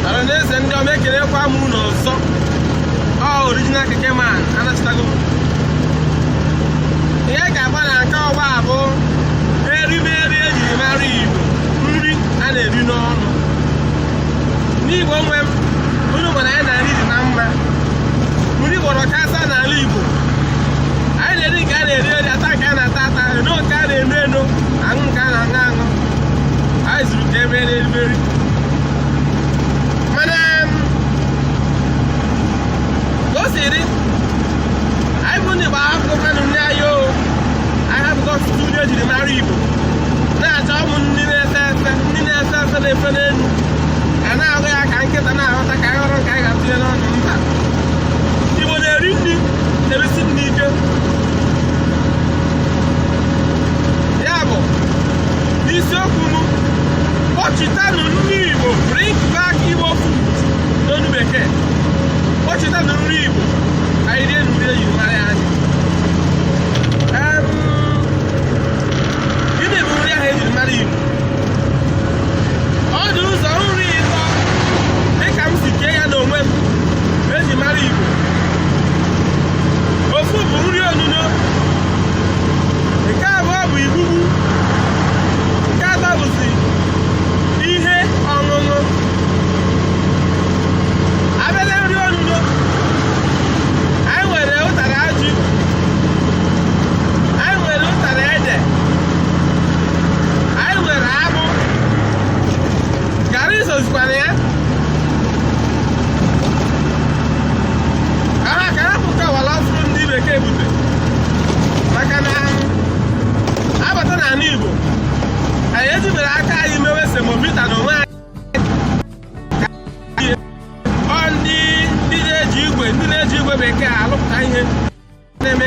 ọra na eze ndị ọma ekelekwa m unu ọzọ ọ original keke man anachịtago m ihe ga-agba na nke ọgba a bụ erimeri ejiri mara igbo nri a na-eri n'ọnụ n'igbo nwe m unu ma na anyị na-eri dị na mma nri gbọrọ kasaa n'ala igbo anyị na-eri nke a na-eri eri ata nke a na-ata ata eno nke a na-eno eno aṅụ nke a na-aṅụ aṅụ anyị zuru ka emere erimeri mana ka o si dị anyị bụ ndị gbara akwụkwọ kanụ ndị anyị o anyị hapụgo ọtụtụ nri ejiri mara igbo na-achọ ụmụ nri na-efe efe nri na-efe efe na-efe n'elu a na-aghọ ya ka nkịta na-aghọta ka anyị ghọrọ nke anyị ga-atụnye n'ọnụ mba igbo na-eri nri na-erisi nri ike ya bụ n'isiokwu m kpọchitanụ nri igbo bring back igbo food n'onu bekee kpọchitanụ nri igbo anyị rie nri eji mara anyị gịnị bụ nri ahụ eji mara igbo ọ dị ụzọ nri ịtọ dịka m si kee ya n'onwe m eji mara igbo ofu bụ nri onuno nke abụọ bụ igbugbu nke atọ bụ ihe ọṅụṅụ a bịa na nri onuno anyị nwere ụtara ji anyị nwere ụtara ede anyị nwere akpụ garị sozikwara ya aha ka ha pụta wala ọfụrụ ndị bekee bute maka na abata n'ala Igbo anyị ejiberọ aka anyị mewe semovita n'onwe anyị ọ ndị ndị na-eji igwe ndị na-eji igwe bekee alụpụta ihe na-eme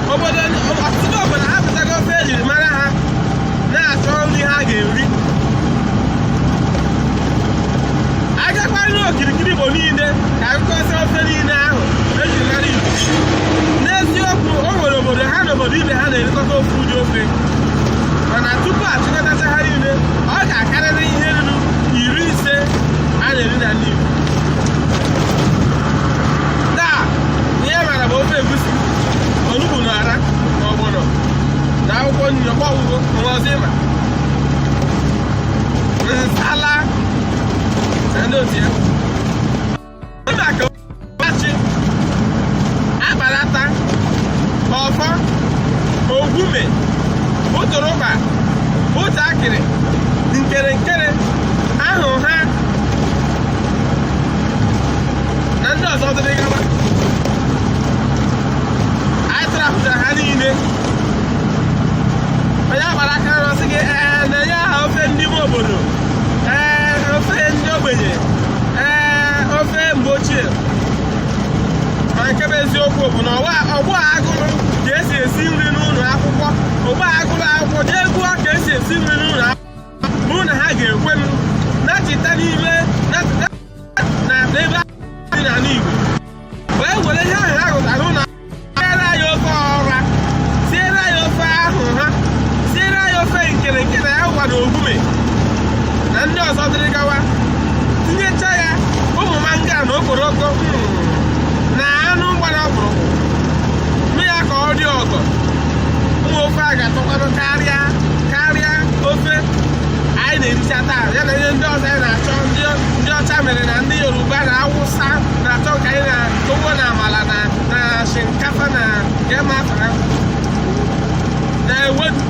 obodo ọtụtụ obodo ha pụtago ofe ejiri mara ha na-achọ nri ha ga-eri a gagharịa n'okirikiri igbo niile ka a gụkọsịa ofe niile ahụ ejiri mara igbo n'eziokwu o nwere obodo ha na obodo ibe ha na-erikọta ofu ụdị ofe mana tupu achịkọtacha ha niile ọ ga-akarịrị ihe ruru iri ise a na-eri n'ala igbo onugbu na ọra na ọgbọnọ na akwụkwọ nri ọgbọ ugbu a o nwe ọzọ ị ma nsala na ndị otu ya dị ka achị akparata ọfọ ogume ụtụrụkpa ụtọ akịrị nkere nkere ahụha na ndị ọzọ dịrị gaba anyị trapụtara ha niile onye agbara aka na ọsị gị ee nye ya aha ofe ndị ime obodo ee ofe ndị ogbenye ee ofe mgbe ochie ma nke bụ eziokwu bụ na ọgbọ ugbu a gụrụ ka esi esi nri n'ụlọ akwụkwọ ọgbọ a gụrụ akwụkwọ jee gụọ ka esi esi nri n'ụlọ akwụkwọ bụrụ na ha ga-ekwe nachita n'ime na n'ebe a dị n'ala Igbo wee were ihe ahụ ha mụtara ụlọ siere anyị ofe ọra siere anyị ofe ahụha siere anyị ofe nkere nkere na agwa na ogume na ndị ọzọ dịrị gawa tinyecha ya ụmụ mangala na okporoko hmm, na anụ gbara ọkpụrụkpụ mee ya ka ọ dị ọgọ ụmụ ofe a ga-atọkwanụ karịa karịa ofe anyị na-ericha taa ya na ihe ndị ọzọ anyị na-achọ ndị ọcha mere na ndị yoruba na awụsa na-achọ ka anyị na ugbo na amala na na shinkafa na kemafara na ewedu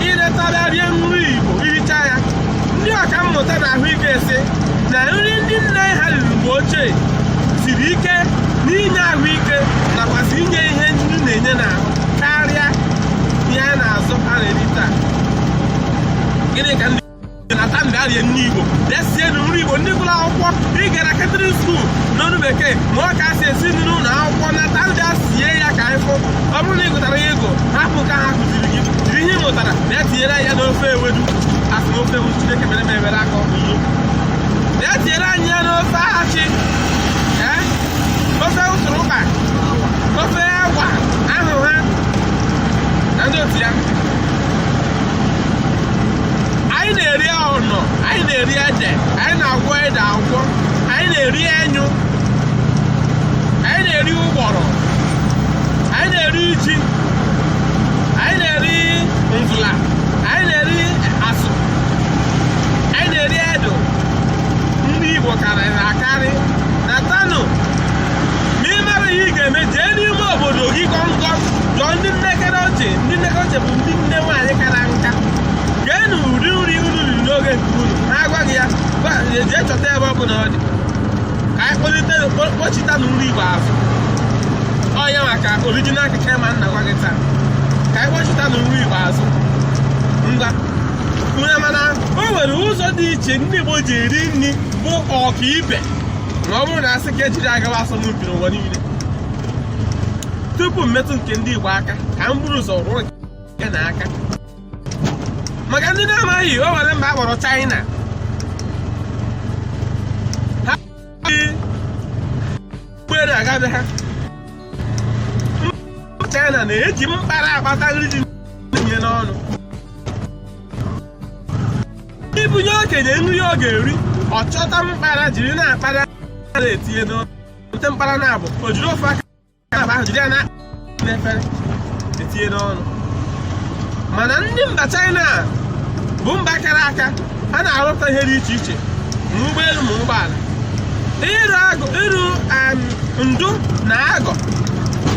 iretara rie nri igbo i richa ya ndị ọka mmụta na ahụike si na nri ndị nne ha riri mgbe ochie siri ike n'inye ahụike nakwasị inye ihe ndị na-enye n'ahụ karịa ihe a na-azụ a na-eri taa gịnị ka ndị natanụ na-erie nri Igbo na-esienụ nri Igbo ndị gụrụ akwụkwọ ị gara Catering School n'onu bekee mụọ ka esi esi nri n'ụlọ akwụkwọ nata na-esie ya ka anyị fụ ọ bụrụ na ị gụtara ya agụ hapụ ka ha kụziri gị jiri ihe ị mụtara na etinyere ya n'ofe ewedu asị na ofe ewedu Chineke mere m ebere aka ọkụzụ na etinyere anyị ya n'ofe achị ee ofe ụtụrụkpa ofe agwa ahụha na ndị otu ya anyị na-eri ahụnọ anyị na-eri ede anyị na-agwọ ede agwọ anyị na-eri enyụ anyị na-eri ụgbọrọ anyị na-eri ji anyị na-eri mvụla anyị na-eri asụ anyị na-eri edụ nri igbo karịrị akarị natanụ ma ị mara ihe ị ga-eme jee n'ime obodo gị kọmkọm jụọ ndị nnekere ntị ndị nnekwu ochie bụ ndị nne nwaanyị kara nka geenụ ụdị nri unu riri n'oge nke unu na-agwaghị ya gwa- jee chọta ebe ọ bụla ọ dị ka anyị kpọlite kpọ- kpọchitanụ nri igbo azụ ọ ya nwa ka orijinal keke ma na-agwa gị taa ka anyị kpọchitanụ nri igbo azụ ngwa unu ma na o nwere ụzọ dị iche ndị igbo ji eri nri bụ ọkaibe ma ọ bụrụ na asị ka ejiri agawa asọmpi n'ụwa niile tupu m metụ nke ndị Igbo aka ka m buru ụzọ rụọ nke a aka maka ndị na-amaghị o nwere mba akpọrọ China ha ụgbọelu aga be ha China na-eji mkpara akpata nri etinye n'ọnụ ibunye okenye nri ọ ga-eri ọ chọta mkpara jiri na-akpara na-etinye n'ọnụ bute mkpara naabọ o jiri ofu aka abụọ ahụ jiri ya na n'efere etinye n'ọnụ mana ndị mba China a bụ mba kara aka ha na-arụpụta ihe dị iche iche ma ụgbọelu ma ụgbọala ịrụ agụ ịrụ em, ndụ na agụ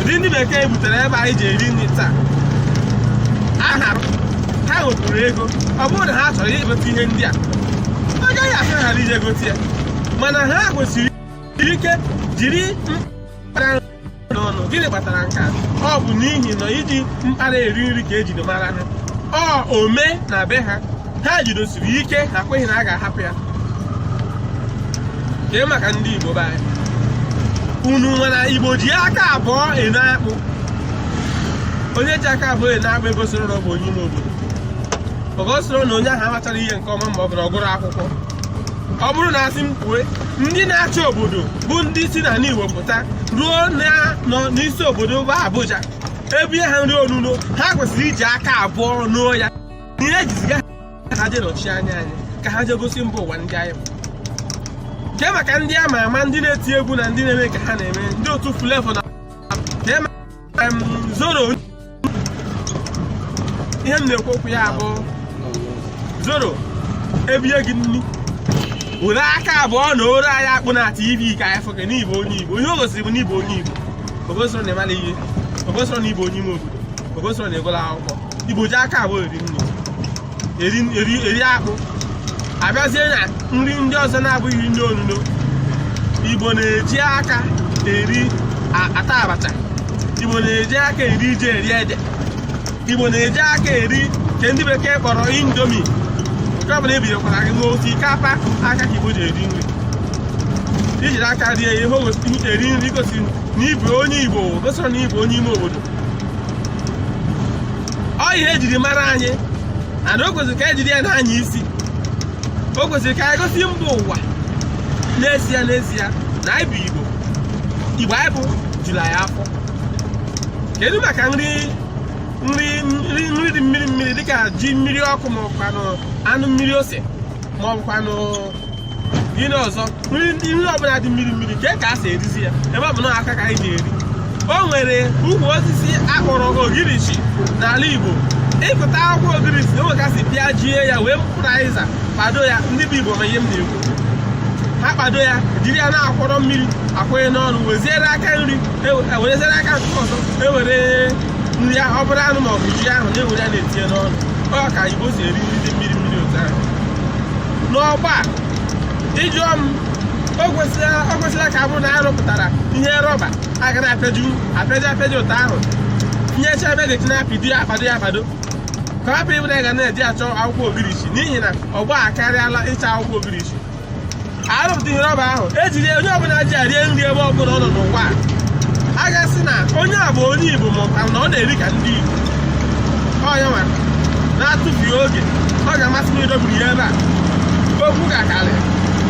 ụdị ndị bekee butere ebe anyị ji eri nri taa aha ha nwetụrụ ego ọ bụrụ na ha chọrọ igote ihe ndị a ọ gaghị afịara ha ije gote ya mana ha kwụsiri ike jiri n'ọnụ gịnị kpatara nke a ọ bụ n'ihi na iji mkpara eri nri ka ejiri mara ha ọ omenala be ha ha jidosiri ike ha kweghị na a ga-ahapụ ya kee maka ndị Igbo be anyị unu mara Igbo ji aka abụọ eno akpụ onye ji aka abụọ eno akpụ egosirọ na ọ bụ onye ime obodo o gosirọ na onye ahụ amacharọ ihe nke ọma ma ọ bụ na ọ gụrọ akwụkwọ ọ bụrụ na asị m kwue ndị na-achị obodo bụ ndị si n'ala Igbo pụta ruo nọ n'isi obodo bụ Abuja ebie ha nri onuno ha kwesịrị iji aka abụọ noo ya ihe e ji ziga ha je nọchi anya anyị ka ha jee gosi mba ụwa ndị anyị bụ kee maka ndị ama ama ndị na-eti egwu na ndị na-eme ka ha na-eme ndị otu Flavour na zoro ihe m na-ekwu okwu ya bụ zoro ebie gị nri were aka abụọ nooro anyị akpụ na tv ka anyị fụke n'ịbụ onye igbo ihe o gosiri bụ n'ịbụ onye igbo o gosirọ na ị marọ ihe o gosirọ na ịbụ onye ime obodo o gosirọ na ị gụrọ akwụkwọ igbo ji aka abụọ eri nri eri eri eri akpụ abịazie na nri ndị ọzọ na-abụghị nri onuno igbo na-eji aka eri a- ata abacha igbo na-eji aka eri ji eri ede igbo na-eji aka eri nke ndị bekee kpọrọ indomie nke ọbụla ebinyekwara gị n'otu ike apa aka ka igbo ji eri nri ijiri aka rie ihe o gosi- eri nri gosiri na ịbụ onye igbo o gosirọ na ịbụ onye ime obodo ọ ihe ejiri mara anyị and o kwesịrị ka anyị jiri ya na-anya isi o kwesịrị ka anyị gosi mba ụwa n'ezie n'ezie na anyị bụ igbo igbo anyị bụ juru anyị afọ kedu maka nri dị mmiri mmiri dịka ji mmiri ọkụ ma ọ bụkwanụ anụ mmiri ose ma ọ bụkwanụ ihe ọzọ nri ndị ihe ọbụla dị mmiri mmiri ka ka a si erizi ya ebe ọ bụ na aka ka anyị ji eri o nwere ukwu osisi akpọrọ ogirisi n'ala Igbo ịkụta akwụkwọ ogirisi na onwekasị pịajie ya were mkpụrụ azịza kpado ya ndị bụ Igbo ma ihe m na-ekwu ha kpado ya jiri ya na-akwọrọ mmiri akwanye n'ọnụ weziere aka nri ewereziere e aka nke ọzọ ewere nri ya ọ bụrụ anụ ma ọ bụ ji ahụ na-ewere ya na-etinye n'ọnụ ọ ka Igbo si eri nri dị mmiri n'ọgbọ a ị jụọ m o kwesịrị ka ọ bụrụ na a rụpụtara ihe rọba a ga na-apịaji apịaji etu ahụ tinyecha ebe a ga-eji na-apịdo ya akpado ya akpado ka ọ hapụ ịbụ na ị ga na-eje achọ akwụkwọ ogirisi n'ihi na ọgbọ a akarịala ịchọ akwụkwọ ogirisi arụpụta ihe rọba ahụ ejiri onye ọbụla ji ya rie nri ebe ọbụla ọ nọ n'ụwa a ga-asị na onye a bụ onye Igbo ma ọ bụ na ọ na-eri ka ndị Igbo onye nwa na-atụfughị oge ọ ga-amasị m idobiri ya ebe a okwu ga-akarị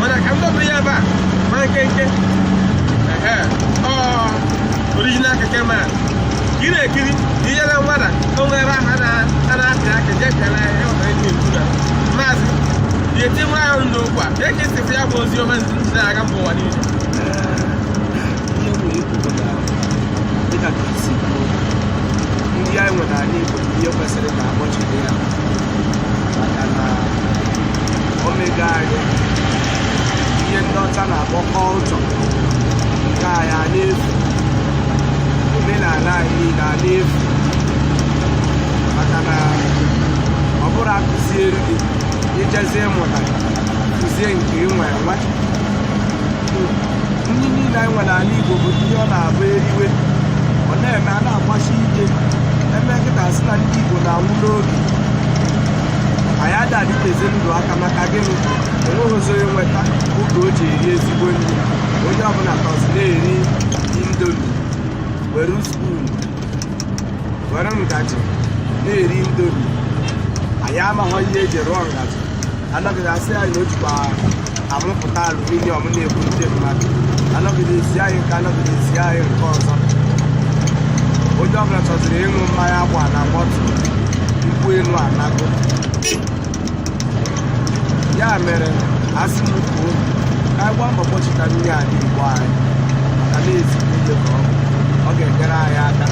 mana ka m dobiri ya ebe a ma nkenke ehe ọ original keke man ka ị na-ekiri ka inyere nwada o nwere aha na- a na-apị aka je kere ya ọbara eji ekwu na maazị ya eti nwa ahụ ndụ ụkwa ka eke sịfụ ya bụ ozi ọma ntị na-aga mba ụwa niile dịka ka i si kwuo nri anyị nwere anyị bụ ihe kwesịrị ka akpọchiri ya maka na omenala anyị ihe ndị ọcha na-akpọ culture nke anyị a na-efu omenala anyị niile a na-efu maka na ọ bụrụ akụziere gị ijezie ịmụta kụzie nke ị nwe nwe nri niile anyị nwere ala igbo bụ ihe ọ na-abụ eriwe ọ na-eme a na-agbasi ike emekata sị na ndị igbo na-anwụ n'oge anyị ada adịtezi ndụ aka maka gịnị o nweghịzi onye nweta oge o ji eri ezigbo nri onye ọbụla nọzi na-eri indomie were spoon were ngaji na-eri indomie anyị amaghọ ihe eji rụọ ngaji anọgide asị anyị na o jikwa amụpụta aluminium na-egbu ndị mmadụ anọgide asị anyị nke a anọgide asị anyị nke ọzọ onye ọbụla chọziri ịṅụ mmanya agba na bottle nkwụ elu anago ya mere asị m kwuo ka anyị gbaa mbọ kpọchita ndị a n'igbo anyị ka na ezigbo ihe ka ọ bụ. ọ ga-enyere anyị aka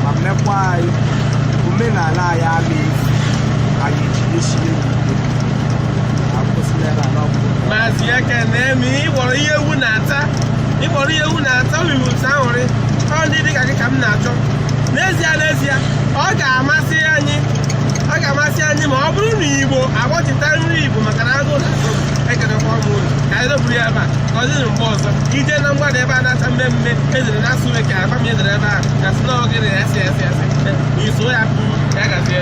ma meekwa anyị omenala anyị ama efu anyị jisie ya ike akwụsịla ebe a n'ọgwụ maazị ekene ma ị kpọrọ ihe ewu na-ata ị kpọrọ ihe ewu na-ata nwa ewu nta ahụrị ọ ndị dị ka gị ka m na-achọ n'ezie n'ezie ọ ga-amasị anyị ọ ga-amasị anyị ma ọ bụrụ na igbo akpọchita nri igbo maka na agụ na agụ ekedekwa ọmụ ụlọ ka anyị doburu ya ebe a ka ọ dịrị mgbe ọzọ ị jee na mgbada ebe a na-acha mmee mmee e dere na asụ bekee agba m e dere ebe a na sị na oge na esi esi esi iso ya ya gazie